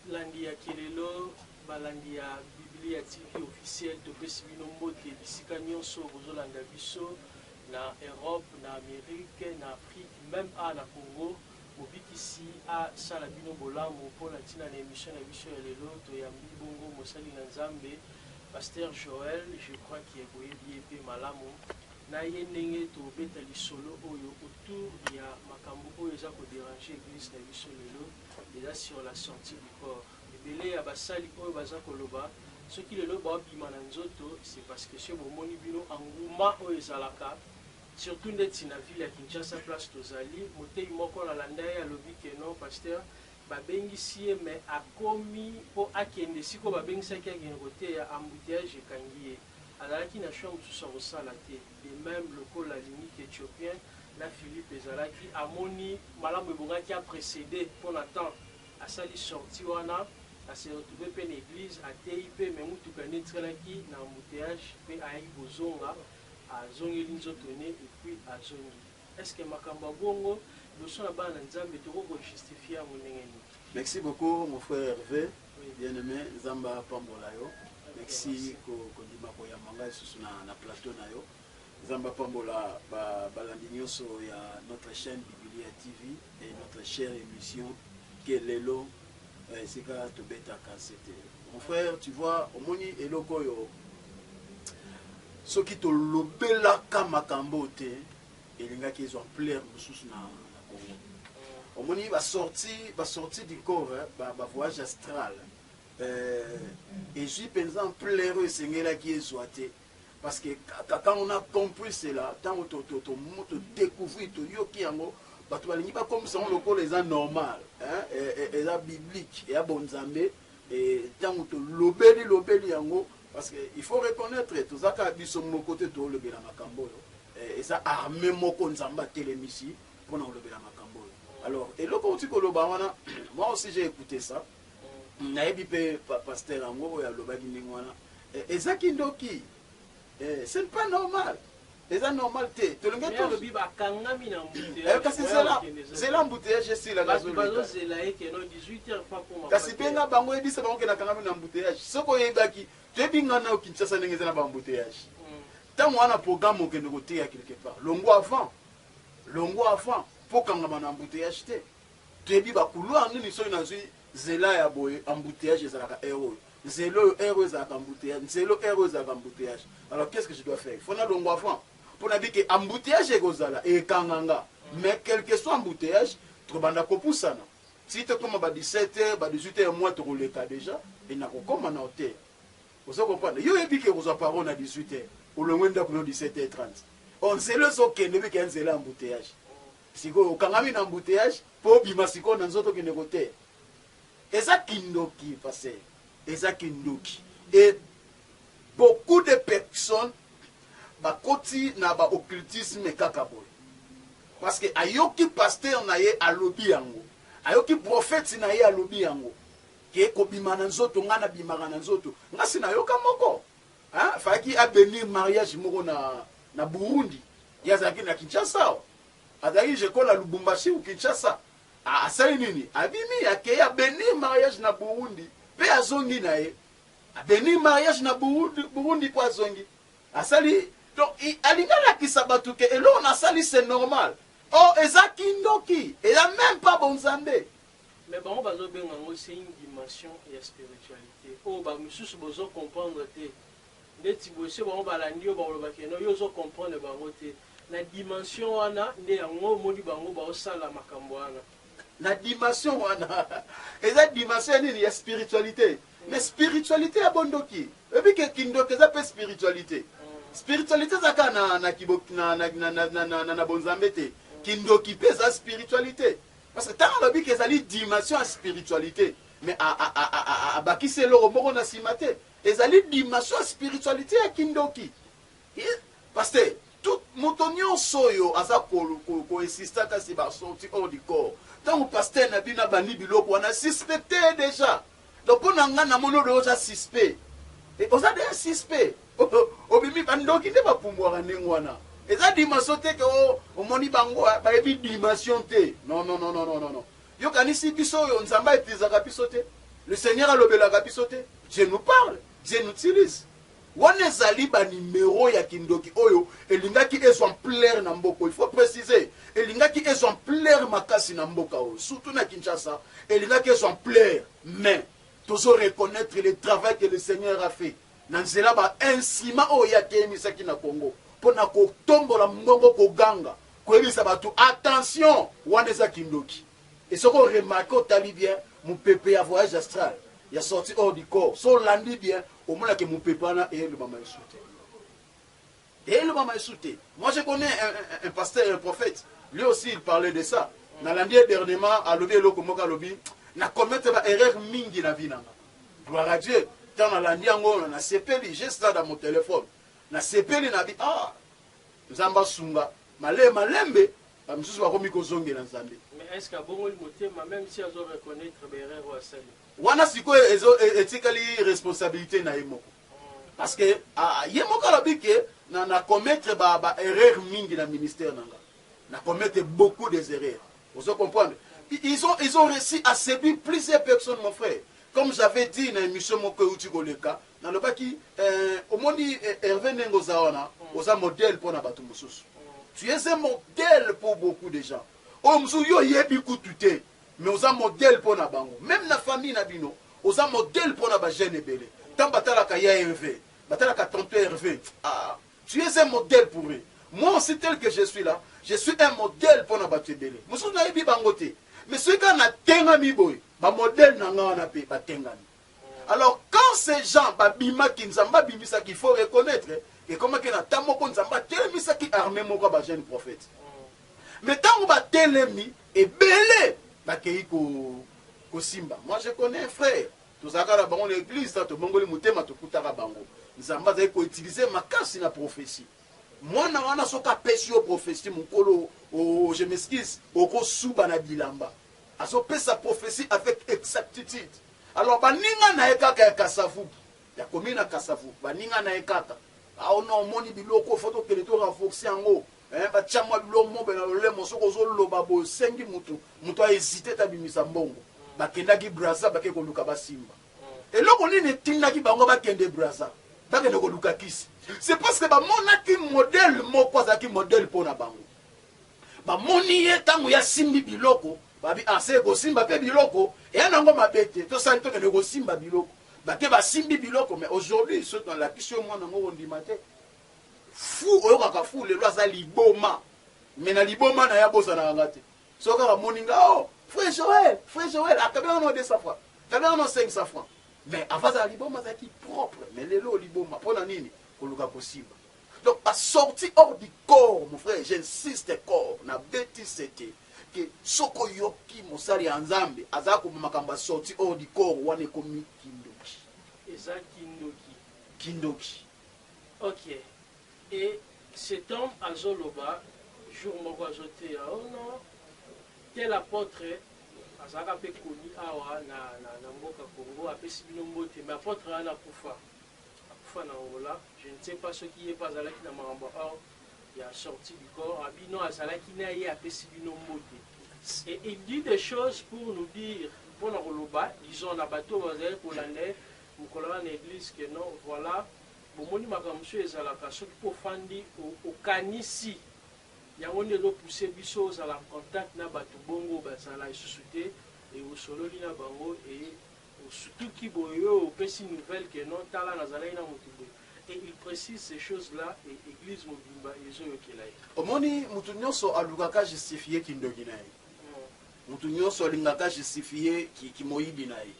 balandi ya kelelo balandi ya biblia tv officiel topesi bino mbote bisika nyonso bozolanda biso na europe na amerike na afrique meme a na congo mobikisi asala bino bolamu mpo na ntina na emission na biso ya lelo toyambi bongo mosali na nzambe paster joel je crois ke boyebi ye mpe malamu na ye ndenge tobeta lisolo oyo autour ya makambo oyo eza ko deranger eglise na biso lelo eza sur la sortie du corps ebele ya basali oyo baza koloba soki lelo bao bima na nzoto c'est parce que soki bomoni bino engouement oyo ezalaka surtout ndeti na ville ya Kinshasa place tozali moteyi moko na landa ye alobi que non pasteur ba bengisi ye mais akomi po akende esika oyo ba bengisaki ye akende koteya embouteillages ekangi ye. Azalaki na choix mosusu ya kosala te. De meme, lokola alingi qu'Ethiopiens na Philippe ezalaki, amoni malamu ebongaki a preceder mpo na temps. Asali sortie wana, a se retrouver mpe na eglise, ateyi mpe, mais mutuka nde etikalaki na embouteillage mpe ayaki kozonga, azongeli nzoto ne et puis azongi. Est ce que makambo ya bongo liboso na bana na Nzambe tokoki ko justifier yango ndenge nini? Mexi beaucoup mon frère Herve bien aime nzambe apambola yo mexi kondima koyamba nga lisusu na na plateau na yo nzambe apambola ba balandi nioso ya notre chaine bibilia TV et notre chère emission kelelo Na esika tobetaka sete. Mon frère tu vois omoni eloko oyo soki tolobelaka makambo oyo te elingaki ezwa ampleur mosusu na Congo. Omoni ba sortie ba sortie du corps ba ba voyage astral eh ezwi penza ampleur oyo esengelaki ezwa te. Parce que kaka quand on a compris cela, tango to to to to decouvrir, to yoki yango, batu balingi ba komisa yango lokola eza normal, hein, eza biblique, eya bo nzambe, et tango to lobeli lobeli yango, parce que il faut reconnaitre toza kaka biso moko te to lobela makambo oyo, eza armee moko nzambe atelemisi pona kolobela makambo oyo. Alors eloko outi koloba wana, moi aussi j'ai ecoute ça, Nayebi pe pasteur yango oyo alobaki ndenge wana eza kindoki eh ce n'est pas normal eza normal te tolingi to lobi ba kangami na embouteillage eh, kasi zela zela embouteillage esila na zolo bazo zela ye keno 18 heures pas koma kasi benga bango ebisa bango kena kangami na embouteillage soko oyebaki toyebi ngana au Kinshasa ndenge eza na ba embouteillage hmm. tango wana programme okende koteya quelque part longo avant longo avant po kangama na embouteillage te Toyebi ba couloir nini soki nazui zela ya boye embouteillage ezalaka heure oyo nzela oyo heure oyo ezalaka embouteillage nzela oyo heure oyo ezalaka embouteillage alors qu'est ce que je dois faire il faut nalongwa avant mpo nayebi ke embouteillage ekozala ekanga nga mais quelque soit embouteillage tokobanda kopusana ti tokoma ba 17 heures ba 18 heures moi tokoleka dejà et nakokoma na hotel ozo comprendre yo oyebi ke okozwa paro na 18 heures olongwe ndako no 17 heures 30 or nzela ezokende oyebi ke ya nzela embouteillage Sikoyo okangami na embouteillage po obima sikoyo na nzoto okende koteya? Eza kindoki pasteur. Eza kindoki et beaucoup de personnes bakoti na ba occultisme kaka boye parce que ayoki pasteur na ye alobi yango, ayoki prophète na ye alobi yango que kobima na nzoto, nga na bimaka na nzoto, nga si nayoka moko. Hein fallaki a benir mariage moko na na Burundi ye azalaki na Kinshasa awa azalaki je kola Lubumbashi ou Kinshasa asali nini abimi akei a benir mariage na Burundi pe azongi na ye a benir mariage na Burundi, Burundi po azongi asali donc alingi alakisa bato ke eloko nasali c'est normal or eza kindoki eza meme pas bonzambe Mais bango bazo benga yango c'est une dimension ya spiritualite oyo ba misusu bozo comprendre te ndeti boye soki bango balandi yo bakoloba ke non yo ozo comprendre bango te na dimension wana nde yango omoni bango bao sala makambo wana. Na dimension wana eza dimension ya nini ya spiritualite mais spiritualite ya bo ndoki oyebi ke kindoki eza pe spiritualite spiritualite eza kaka na na na na na na na na bonzambe te kindoki pe eza spiritualite. Parce que tango alobi que ezali dimension ya spiritualite mais abakisi eloko moko na sima te. Ezali dimension ya spiritualite ya kindoki. Pasteur, tout moto nionso oyo aza ko insiste ata sur ba sortie hors du corps, tango pasteur na bino abandi biloko wana suspecter ye dejà. Donc pona nga na moni odoyo oza suspect et oza deja suspect obimi ba ndoki nde ba pumbuaka ndenge wana eza dimension te ke oh, omoni bango eh, bayebi dimension te non non non non non yo kanisi biso oyo nzambe a utilizaka biso te le seigneur alobelaka biso te je nous parle je nous utilise Wana ezali ba numero ya kindoki oyo elingaki ezwa ampleur na mboka oyo. Il faut preciser, elingaki ezwa ampleur makasi na mboka oyo, surtout na Kinshasa, elingaki ezwa ampleur. Mais, tozo reconnaitre le travail que le Seigneur a fait na nzela ba instruments oyo Ye ateyemisaki na Congo mpo na kotombola mongongo, koganga, koyebisa batu, attention! Wana eza kindoki. Et soki o remarquer, otali bien, mopepe ya voyage astral, ya sortie hors du corps, soki olandi bien, Omona ke mupepe wana elobama lisusu te elobama lisusu te moi je connais un, un, un pasteur un prophète lui aussi il parlait de ça nalandi ye dernièrement alobi eloko moko alobi na commettre ba erreur mingi na vie nanga gloire à Dieu tant nalandi yango nasepeli j'ai ça dans mon téléphone nasepeli na bi ah nzambe asunga male malembe bamisusu bakomi kozongela nzambe mais est ce que abongoli motema même si azo reconnaître ba erreur oyo asali Wana sikoyo ezo etikali responsabilite na ye moko parce que ye moko alobi que na na commettre ba ba erreurs mingi na ministère na nga na commettre beaucoup des erreurs ozo comprendre ils ont ils ont réussi à séduire plusieurs personnes mon frère comme j'avais dit na émission moko euti koleka nalobaki euh, omoni euh, Hervé ndenge oza wana oza modèle mpo na bato mosusu tu es un modèle pour beaucoup de gens oyo mosusu yo oyebi kutu te Mais oza modèle pona bango meme na famille na bino oza modèle pona ba jeunes ebele tango batalaka ya Herve batalaka tonton Herve aah tu es un modèle pour eux moi aussi tel que je suis là je suis un modèle pona batu ebele mususu nayebi bango te mais soki kaka natengami boye ba modèle na nga wana pe batengami. Alors quand ces gens ba bimaki Nzambe abimisaki faut reconnaitre ekomaki na temps moko Nzambe atelemisaki armee moko ya ba jeunes prophètes mais tango ba telemi ebele bakeyi ko kosimba moi je connais un frère tozalaka na bango na eglise ta tobongoli motema tokutaka bango Nzambe azali ko utiliser makasi na prophetie mwana wana soki apesi yo prophetie mokolo oh, oh, oh, je m'excuse okosuba na bilamba Azo pesa prophetie avec exactitude alors baninga naye kaka ya kasavubu ya commune ya kasavubu baninga naye kaka awo non omoni biloko faut tokende to renforcer yango hein batia mwa biloko mobe na lolemo soki ozo loba boye osengi mutu mutu a hesite te abimisa mbongo bakendaki Brazza bake koluka basimba eloko nini etindaki bango bakende Brazza bakende koluka kisi c'est parce que bamonaki modèle moko azalaki modèle mpo na bango Bamoni ye ntango ye asimbi biloko, babi, Ah, se kosimba pe biloko, eya na yango mabe te. Tosali, tokende kosimba biloko. Bake basimbi biloko, mais aujourd'hui, soki nalakisi yo mwana yango, okondima te. Fou, oyokaka fou, lelo aza liboma. Mais na liboma na ye, abosanaka nga te. Soki kaka amoni nga, Oh! Frère Joël! Frère Joël! Akabi nga no 200 francs. Akabi nga no 500 francs. Mais avant azala liboma, azalaki propre. Mais lelo liboma, pona nini? Koluka kosimba. Donc ba sortie hors du corps mon frère j'insiste corps na beti sete que soki oyoki mosali ya nzambe aza koma makambo ya sortie hors du corps wana ekomi kindoki eza kindoki kindoki ok et cet homme azo loba jour moko azo teya oh non tel apotre azalaka pe connu awa na na mboka congo apesi bino mbote mais apotre wana akufa Akufa na Angola je ne sais pas soki ye pe azalaki na makambo or ya sortie du corps a bino azalaki na ye apesi bino mbote et il dit des choses pour nous dire pona koloba disons na batu oyo bazalaki kolanda ye mukolo wana na eglise que non voila bomoni makambo mosusu ezalaka soki pe ofandi okanisi yango nde ezo pousser biso ozala en contact na batu bongo bazala lisusu te et osololi na bango et Osutuki boye yo opesi nouvelle que non tala nazalaki na mutu boye et il precise ces choses là et eglise mobimba ezo yokela ye. Omoni mutu nionso alukaka justifier kindoki na ye, mutu nionso alingaka justifier ki ki moyibi na ye,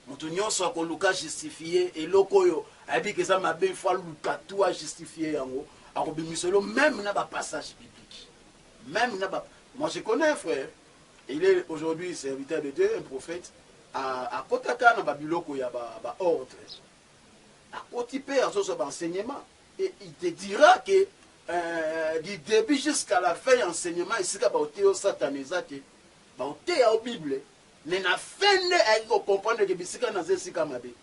mutu nionso akoluka justifier eloko oyo ayebi que eza mabe il faut aluka tout a justifier yango, akobimiselo meme na ba passage biblique meme na ba moi je connais un frère Il est aujourd'hui serviteur de Dieu, un prophète, akotaka na ba biloko ya ba ordre, akoti pe azozwa ba enseignement et il te dira que euh, du début jusqu'à la fin ya enseignement esika baoteya yo satana eza te, baoteya yo bible mais na fin nde ayaki kocomprendre ke bisika naza esika mabe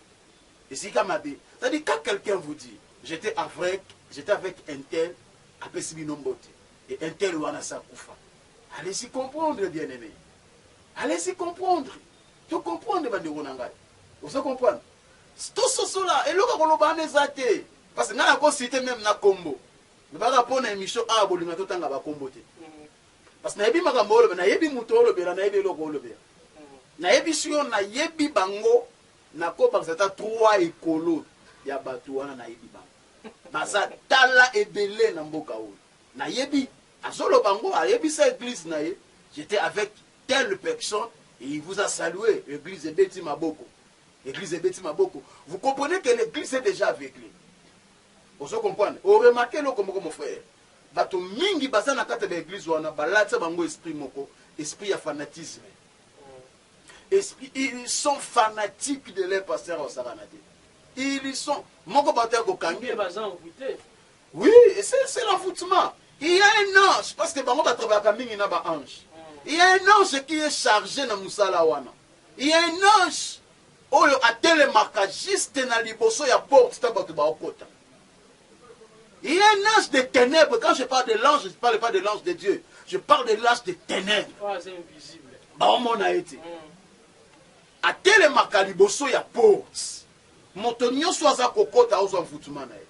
esika mabe c'est-à-dire quand quelqu'un vous dit j'étais avec j'étais avec un tel apesi bino mbote et un tel wana sa kufa Allez y comprendre bien aime allez y comprendre to comprendre ba ndeko na ngai ozo comprendre to sosola eloko ya koloba wana eza te parce ngai nako cite meme na kombo lobaka mpo na emission awa bolinga totanga bakombo te parce nayebi makambo olobe nayebi moto olobela nayebi eloko olobela nayebisi yo nayebi bango nakobakisa ata trois ekolo ya bato wana nayebi bango baza tala ebele na mboka oyo nayebi Azoloba ngo ayebisa eglise na ye j'etais avec telle personne et il vous a salue eglise ebeti maboko eglise ebeti maboko vous comprenez que l'eglise est dejà aveugle ozo comprendre o remarque eloko moko mon frère bato mingi baza na kati ya ba eglise wana balatisa bango esprit moko esprit ya fanatisme esprit ils sont fanatiques de leur pasteur au sarana te ils sont moko bato ya kokangi Oui c'est c'est l'avoutement il ya un ange parce que bango ba travaillaka mingi na ba ange il ya un ange qui est charge na musala wana il ya un ange oyo atelemaka juste na liboso ya porte ta bato baokota il ya un ange de ténèbres quand je parle de l'ange je parle pas de l'ange de Dieu je parle de l'ange de ténèbres oh, baomona ye te mm. atelemaka liboso ya porte Moto nioso aza kokota ozwa nvutuma na ye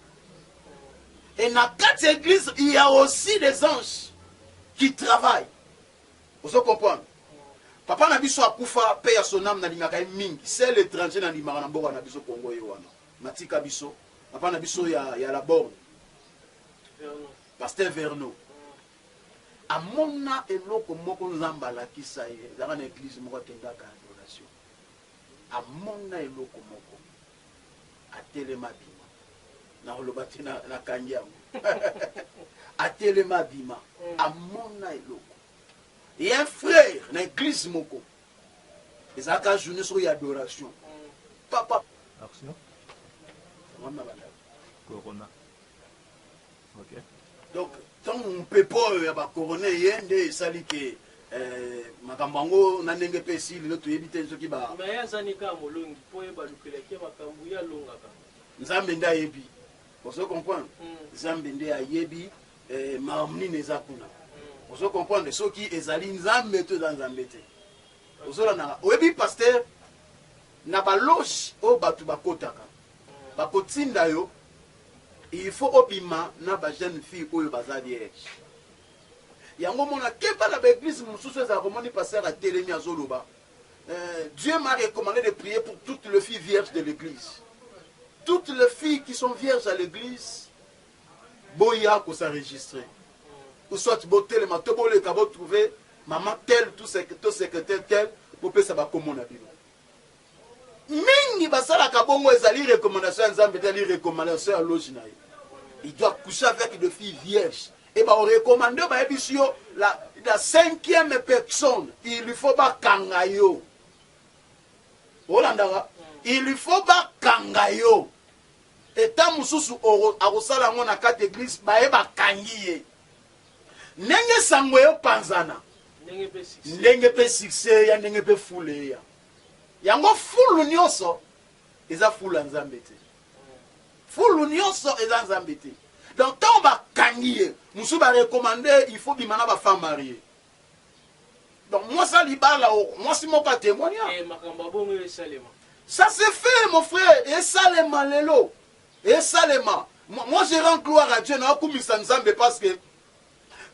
et na kati ya eglise il ya aussi des anges qui travaillent ozo comprendre papa na biso akufa paix ya son ame na lingaka ye mingi seul etranger na ndimaka na mboka na biso congo ye wana matika biso papa na biso ya ya la borne pasteur verno amona eloko moko nzambe alakisa ye ezalaka na eglise moko akendaka Amona eloko moko, atelema, abima. Nakoloba te nakangi yango. Atelema, abima. Amona eloko. Et un frère na eglise moko, ezalaka journée soko ya adoration, papa. Action. Yango wana nabandaka. Corona. Donc tango mpepo oyo ya ba corona eye nde esali que makambo yango na ndenge pe esili lelo toyebi te soki ba. Mais ye aza ne kaka molongi po ye balukelaki ye makambo ye alongaka. Nzambe nde ayebi ozo comprendre nzambe nde ayebi makambo nini eza kuna ozo comprendre soki ezali nzambe to eza nzambe te ozo landa nga oyebi pasteur na ba loge oyo batu bakotaka Bakotinda yo il faut obima na ba jeune fille oyo baza vierge yango omona keba na ba eglise mususu ezalaka omoni pasteur atelemi azoloba Dieu m'a recommande de prier pour toutes le fille vierge de l'eglise toutes le fille qui sont vierge à l'eglise boya ko sa registre ou soit botelema to boleka bo trouver maman tel to secretaire tel bopesa bakomo na bino Mingi basalaka bongo ezali recommandation ya nzambe te ezali recommandation ya loge na ye il doit coucher avec de fille vierge et ba recommande bayebisi yo la, la cinquième personne il faut bakanga yo olandaka il faut bakanga yo eta mosusu akosala yango na kati eglise baye bakangi ye ndenge sango eyo panzana ndenge mpe succès ya ndenge mpe fule eya Yango fulu nionso eza fulu ya nzambe te fulu nionso eza nzambe te donc tango ba kangi ye mususu ba recommande il faut bima na ba femme marie donc mwasi ya libala mwasi moko a temoigna eh, makambo ya bongo esalema ça se fait mon frère esalema lelo esalema moi je rends gloire à Dieu na akumisa nzambe parce que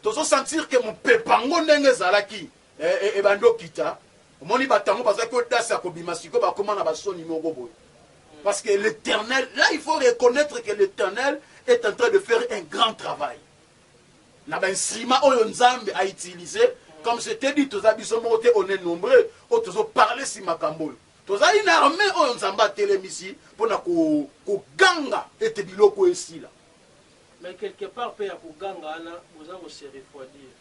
tozo sentir que mupepa ngo ndenge ezalaki Eh eh eh ba ndoki ta omoni batu yango bazalaki audace ya kobima sikoyo bakoma na ba soni moko boye parce que l'Eternel là il faut reconnaître que l'Eternel est en train de faire un grand travail na ba instruments oyo Nzambe a utilisé comme je t'ai dit toza biso moko te on est nombreux oyo tozo parler si makambo oyo tozali na armée oyo Nzambe atelemisi mpo na koganga ko ete biloko esila mais quelque part mpe ya koganga wana boza ko se refroidir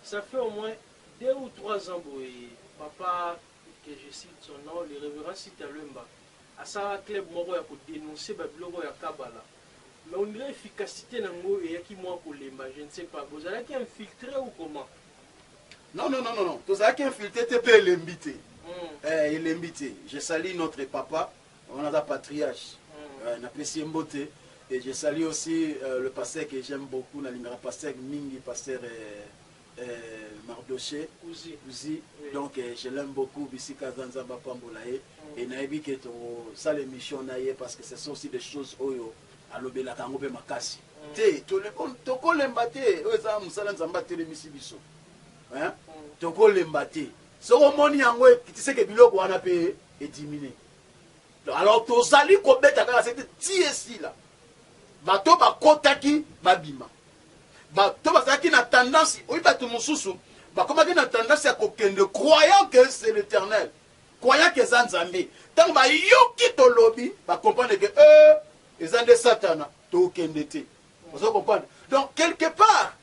Ça fait au moins deux ou trois ans boye papa que je cite son nom le reverend Sita Luemba asalaka club moko ya ko denoncer ba biloko ya kabala mais on dirait efficacite na ngo eyaki mua kolemba je ne sais pas bozalaki infiltre ou comment? Non non non non tozalaki infiltre te pe elembi te Hum. eh elembi te je salue notre papa Yango naza patriarche euh na pesi ye mbote et je salue aussi euh le pasteur que j'aime beaucoup na lingaka pasteur mingi pasteur euh Mardoche Kuzi donc je l'aime beaucoup bisika aza nzambe apambola ye et na yebi que toko sala emission na ye parce que ce sont aussi des choses oyo alobelaka yango pe makasi te toko lemba te oyo eza musala nzambe atelemisi biso hein toko lemba te soki omoni yango ekitiseke biloko wana pe e diminuer alors tozali kobeta kaka sete ti esila bato bakotaki babima bato bazalaki na tendance oyi bato mosusu bakomaki na tendance ya kokende croyant que c'est l'éternel croyant que eza nzambe ntango bayoki tolobi bacomprendre ke e euh, eza nde satana tokende te ozo comprendre donc quelque part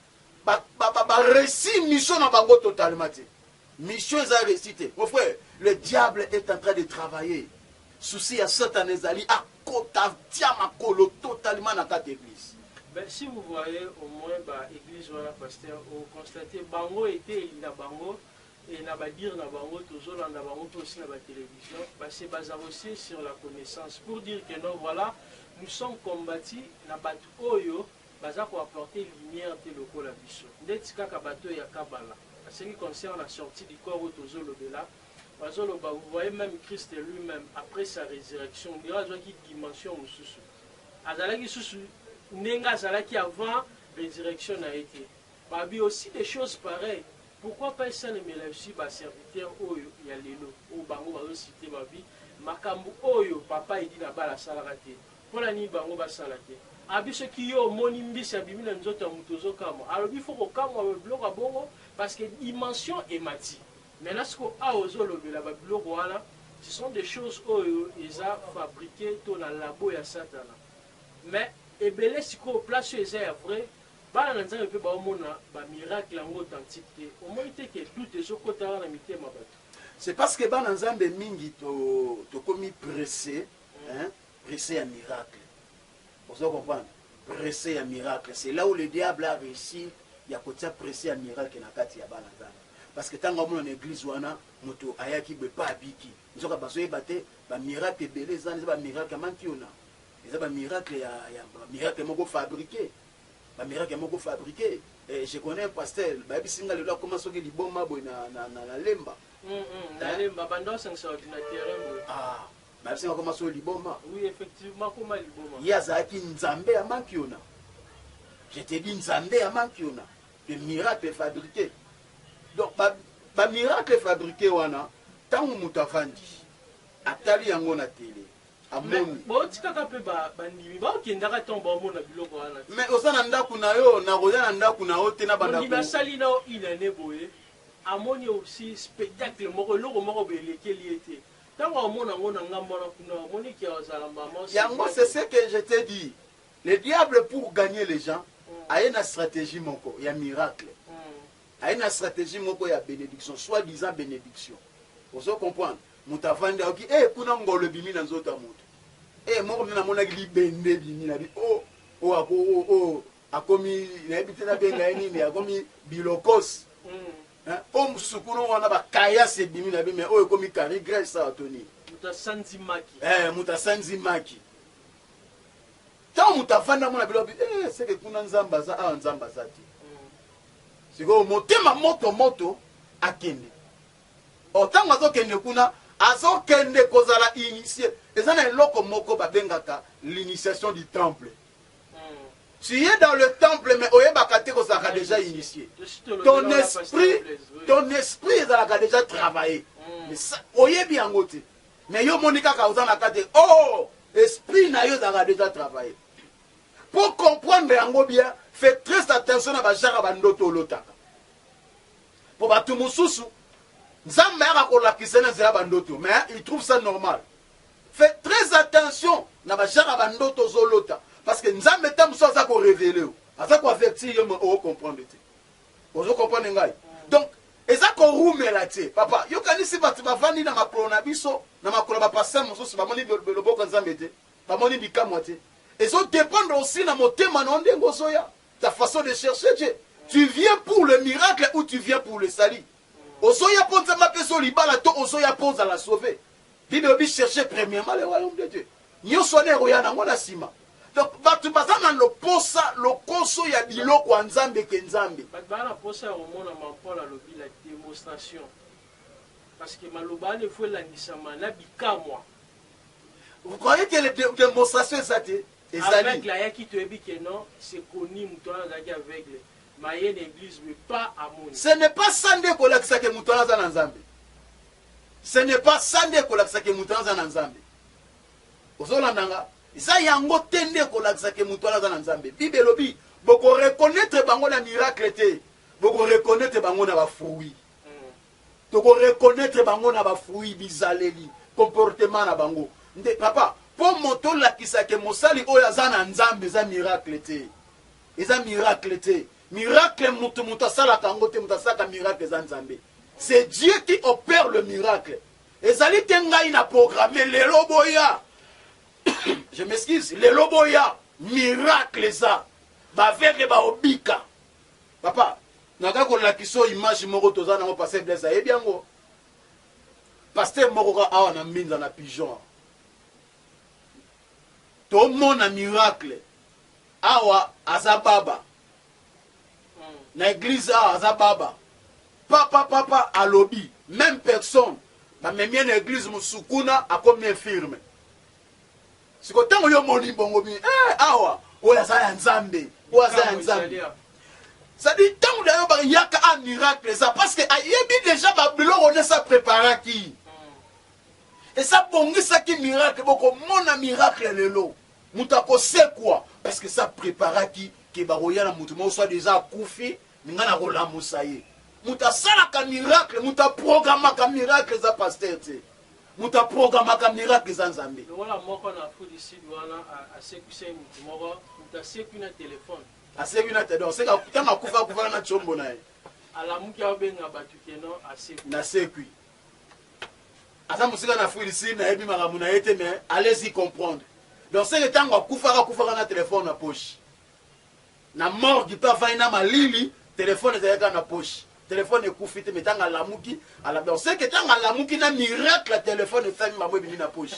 baressi ba, ba, ba mission na bango totalement te Mission eza reussi te mon frère le diable est entrain de travailler souci ya satana ezali akota tia makolo totalement na kati ya eglise. Ben si vous voyez au moins ba eglise wana pasteur o constate bango eteyeli na bango et na ba dire na bango tozo landa bango pe aussi na ba television ba se baza aussi sur la connaissance pour dire que non voila nous sommes combati na batu oyo Baza ko apporter lumière te lokola biso. Ndeti kaka bato oyo ya kabala. Ce qui concerne la sortie du corps oyo tozo lobela, bazo loba vous voyez meme Christ lui meme après sa resurrection on dirait azwaki dimension mosusu. Azalaki lisusu ndenge azalaki avant resurrection na ye te. Ba bi aussi des choses pareilles. Pourquoi pas esalemela aussi ba serviteurs oyo ya lelo oyo bango bazo citer ba bi makambu oyo papa Eddy Nabala asalaka te. Pona nini bango ba sala te? Abi soki yo omoni mbisi abimi na nzoto ya mutu ozo kamwa alobi faut ko kamwa ba biloko ya bongo parce que dimension emati maintenant siko awa ozo lobela ba biloko wana ce sont des choses oyo eza fabrique to na labo ya satana mais ebele sikoyo place oyo eza ya vrai bana na nzambe pe bao mona ba miracle yango authentique te omoni te ke doute ezo kota awa na mitema batu. C'est parce que bana nzambe mingi to tokomi presse hein. Presse ya miracle ozo comprendre? Presse ya miracle c'est là où le diable a reussi ya kotia presse ya miracle na kati ya bana Nzambe parce que tango amona na eglise wana mutu ayaki boye pa abiki nzoka bazo yeba te ba miracle ebele eza wana eza ba miracle ya mankiona eza ba miracle ya ba miracle moko fabrique ba miracle moko fabrique eh, je connais un pasteur bayebisi nga lelo akoma soki liboma boye na, na, na, na lemba mm -hmm. na lemba banda osangisa ordinateur ah Babsi akoma solo liboma. Oui effectivement akoma liboma. Ye azalaki nzambe ya mankiona. Je te dis nzambe ya mankiona que miracle fabrique. Donc ba, ba miracle fabrique wana tango moto avandi atali yango na tele amoni botikaka mpe bandimi baokendaka ntango baomona biloko wana te mais oza na ndako na yo nakoya na ndako na yo te na bandimi asali na yo inane boye amoni osi spectacle moko eloko moko boye elekeli ye te Tango amona yango na ngambo wana kuna omoni que azala maman Sylvie Yango c'est ce que je t'ai dit le diable pour gagner les gens aye na strategie moko ya miracle aye na strategie moko ya benediction soit disant benediction ozo comprendre mutu avandi ayoki eh kuna ngolo ebimi na nzoto ya mutu eh moko mpe namonaki libende ebimi na bi oh oh ako oh oh akomi nayebi te nabenga ye nini akomi bilokos Eh o msukuru wana ba caillasse ebimi na bi mais oyo ekomi carrie grace awa to nini? Moto asanzi maki. Eh moto asanzi maki. Ntango moto avandi amona biloko bi eh seke kuna Nzambe aza awa Nzambe aza te. Mm. Sikoyo motema moto moto akende. O oh, ntango azokende kuna azokende kozala initie eza na eloko moko babengaka l'initiation du temple Tu es dans le temple mais oyebaka te kozalaka déjà initié. Ton esprit, ton esprit ezalaka déjà travailler. Hmm. Oyebi yango te. Mais yo moni kaka oza na kati. Oh, esprit na yo ezalaka déjà travailler. Pour comprendre yango bien, fais très attention na bajara bandoto olotaka. Pour bato mosusu, Nzambe ayaka kolakisa na nzela bandoto, mais il trouve ça normal. Fait très attention na ba genre ya ba ndoto ozo lota parce que nzambe tango mosusu aza ko reveler yo aza ko avertir yo mais o comprendre te ozo comprendre ngai donc eza ko rumela te papa yo kanisi batu ba vandi na makolo na biso na makolo ba pasteur mosusu ba moni loboko ya nzambe te ba moni bikamwa te ezo dependre aussi na motema na yo ndenge ozo ya ta façon de chercher Dieu tu viens pour le miracle ou tu viens pour le salut ozo ya po nzambe apesa yo libala to ozo ya po ozala sauver Bible elobi cherchez premierement le royaume de Dieu. Nionso wana ekoya nango na sima. Donc batu baza na loposa, lokoso ya biloko ya Nzambe ke Nzambe. Batu baza na posa ya komona maman Paul alobi la demonstration parce que maloba wana il faut elandisama na bikamwa. Vous croyez que le de, demonstration eza te? Ezali. Aveugle ayaki toyebi que non, c'est connu mutu wana azalaki aveugle. Maye na eglise mais pas amona. Ce n'est pas ça nde ekolakisa que mutu wana aza na Nzambe. Ce n'est pas ça nde ekolakisa que mutu wana aza na Nzambe. Ozo landa nga? Eza yango te nde ekolakisa que mutu wana aza na Nzambe. Bible elobi boko reconnaitre bango na miracle te, boko reconnaitre bango na ba fruits. Toko reconnaitre bango na ba fruits, bizaleli, comportement na bango. Nde papa, po moto olakisa que mosali oyo aza na Nzambe eza miracle te. Eza miracle te. Miracle mutu mutu asalaka yango te mutu asalaka miracle eza nzambe c'est Dieu qui opère le miracle ezali te ngai na programme lelo boya je m'excuse lelo boya miracle eza baveugle baobika papa naza kolakisa oyo image moko toza nango paster blaise ayebi yango paster moko ka awa na mbinza na pigeon To mona miracle awa aza baba na eglise awa aza baba papa papa alobi meme personne ba memie na eglise mususu kuna akomi infirme siko tango yo moni bongo bi eh awa oyo aza ya nzambe oyo aza ya nzambe sadi ntango na yo bayaka a miracle eza parce que ayebi deja babiloko nde sa preparaki Esi abongisaki miracle boko mona miracle lelo mutu ako sekua parce que esi a preparaki que bakoya na mutu moko soit disant akufi mais nga nako lamusa ye mutu asalaka miracle mutu a programmaka miracle eza pasteur te mutu a programmaka miracle eza nzambe Longola moko na Afrique du Sud wana asekwisaki mutu moko mutu asekwi na telephone. Asekwi na te donc seka tango akufa akufaka na tshombo na ye. Alamuki abenga batu que non asekwi. Nasekwi. Aza musika na fruit du sud nayebi makambu naye te mais allez y comprendre donc seke tangu akufaka akufaka na telephone na poche na morgue pe avandi na malili telephone ezalaki kaka na poche telephone ekufi te mais tangu alamuki ala donc seke tangu alamuki na miracle ya telephone efami mamu ebimi na poche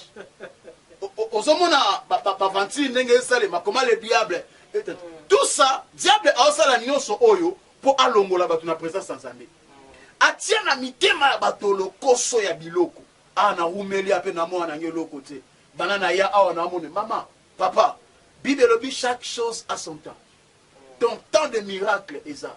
ozomona baventure ndenge esalema comment le diable tout ça diable aosala nyonso oyo mpo alongola bato na presence ya nzambe Atia na mitema ya bato lokoso ya biloko. Ah na wumeli ape na mwana nanga eloko te banda na ya awa na mone mama papa bible elobi chaque chose a son temps ton temps de miracle eza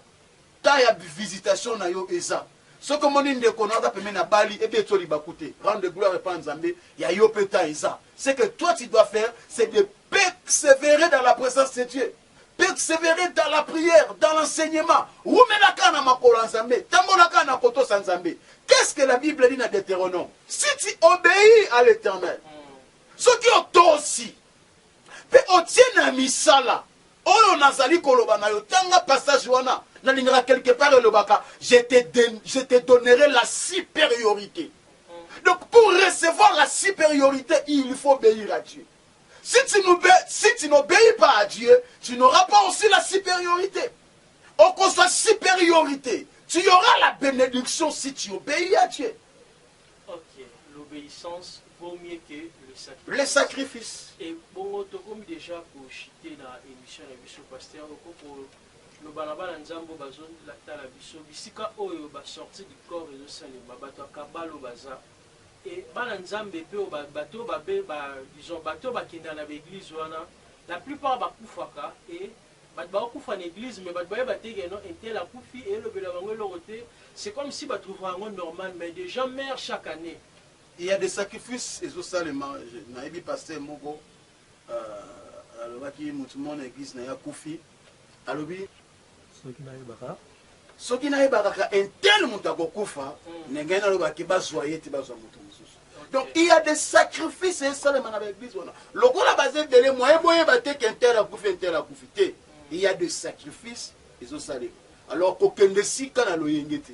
temps ya visitation na yo eza soki omoni ndeko na aza pembeni na bali ebe eto libaku te rendre gloire epa nzambe ya yo pe temps eza ce que toi tu dois faire c'est de perseverer dans la présence de Dieu Perseverer dans la prière, dans l'enseignement, wumela kaka na makolo ya Nzambe, tambola kaka na kotosa Nzambe. Qu'est-ce que la Bible dit na Deuteronome? Si tu obeis à l'Eternel, soki otosi pe otie na misala oyo nazali koloba na yo, tanga passage wana, nalingaka quelque part elobaka je te, je te donnerai la superiorite. Donc pour recevoir la superiorite, il faut obeir à Dieu. Si tu n'obes, si tu n'obeis pas à Dieu, tu n'auras pas aussi la superiorite. Okozwa superiorite. Tu auras la benediction si tu obeis à Dieu. Ok, l'obeissance vaut mieux que le sacrifice. Le sacrifice. Et bongo tokomi déjà ko chiter na émission na biso pasteur okoko loba na bana nzambo bazo tala biso bisika oyo ba sortie du corps ezo salema bato ya kabalo baza Et bana nzambe pe oyo ba bato oyo babe ba disons bato oyo ba kendaka na ba eglise wana la plupart ba kufaka et bato bako kufa na eglise mais bato ba yeba te que non un tel akufi et elobela bango eloko te c'est comme si ba trouvaka yango normal mais des gens meurent chaque annee. Il ya des sacrifices ezo salema, nayebi pasteur moko. Ah alobaki mutu mona eglise naye akufi alobi soki nayebaka soki nayebaka ka un tel mutu akokufa mm. ndenge naloba ke bazwa ye te bazwa mutu mosusu donc il y a des sacrifices esalema na baeglise wana lokola baza ebele moye boyeba te ke un tel akufi un tel akufi te mm. il y a des sacrifices ezosalema alors kokende esika na loyenge te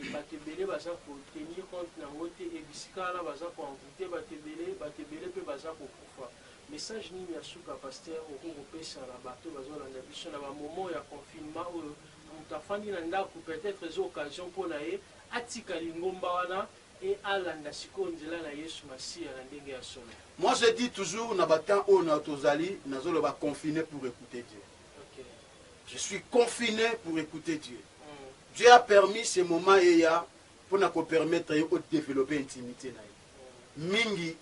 et batu ebele baza ko tenir compte na ngo te et bisika wana baza ko envoute batu ebele, batu ebele pe baza ko kufa. Message nini ya suka pasteur okoki ko pesa na batu oyo bazo landa biso na ba moments ya confinement oyo mutu afandi na ndaku peut etre eza occasion pona ye atika lingomba wana et alanda sikoyo nzela na yesu masiya na ndenge ya solo? Moi je dis toujours na ba temps oyo na tozali nazo loba confine pour ecouter Dieu. Je suis confine pour ecouter Dieu. Dieu a permis ce moment eya mpo na ko permettre ye o developper intimite na ye. Mingi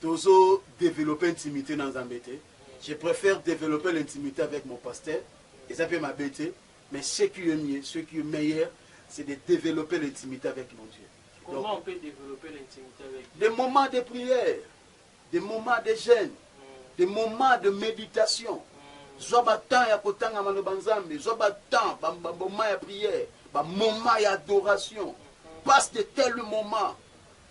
tozo developper intimite na Nzambe te. Je préfère developper l'intimite avec mon pasteur. Eza mpe mabe te, mais ce qui est mieux, ce qui est meilleur, c'est de developper l'intimite avec mon Dieu. Comment on peut developper l'intimite avec Dieu? Des moments de prière. Des moments de jeune, des moments de meditation, zwa ba temps ya kotanga maloba Nzambe, zwa ba temps, ba moments ya prière, ba moments ya adoration, passe de tels moments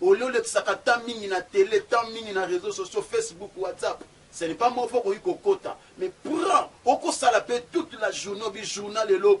au lieu olekisaka temps mingi na tele, temps mingi na reseaux sociaux, Facebook, WhatsApp, ce n'est pas mauvais okoki kokota mais prends, okosala pe toute la journee ou bien journal elo,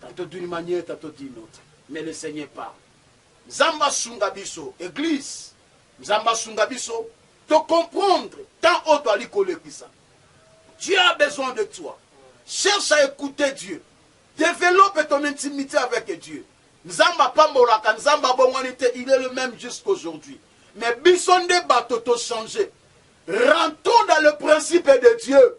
Tantot d'une maniere tantot d'une autre mais le seigneur parle nzambe asunga biso eglise nzambe asunga biso to comprendre temps oyo toali kolekisa Dieu a besoin de toi cherche à écouter Dieu développe ton intimité avec Dieu nzambe apambolaka nzambe abongwani te il est le même jusqu'aujourd'hui mais biso nde bato to changer rentrons dans le principe de Dieu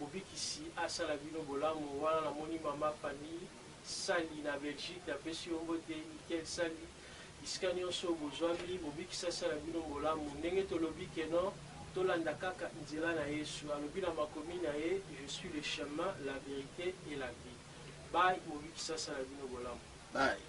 Mobikisi asala bino bolamu. Wana na moni mama Fanny sali na Belgique na pesi yo mbote Michael sali bisika nionso bozuami mobikisi asala bino mbolamu ndenge tolobi que non tolanda kaka nzela na yesu alobi na makomi na ye je suis le chemin la verite et la vie bye mobikisi asala bino bolamu bye.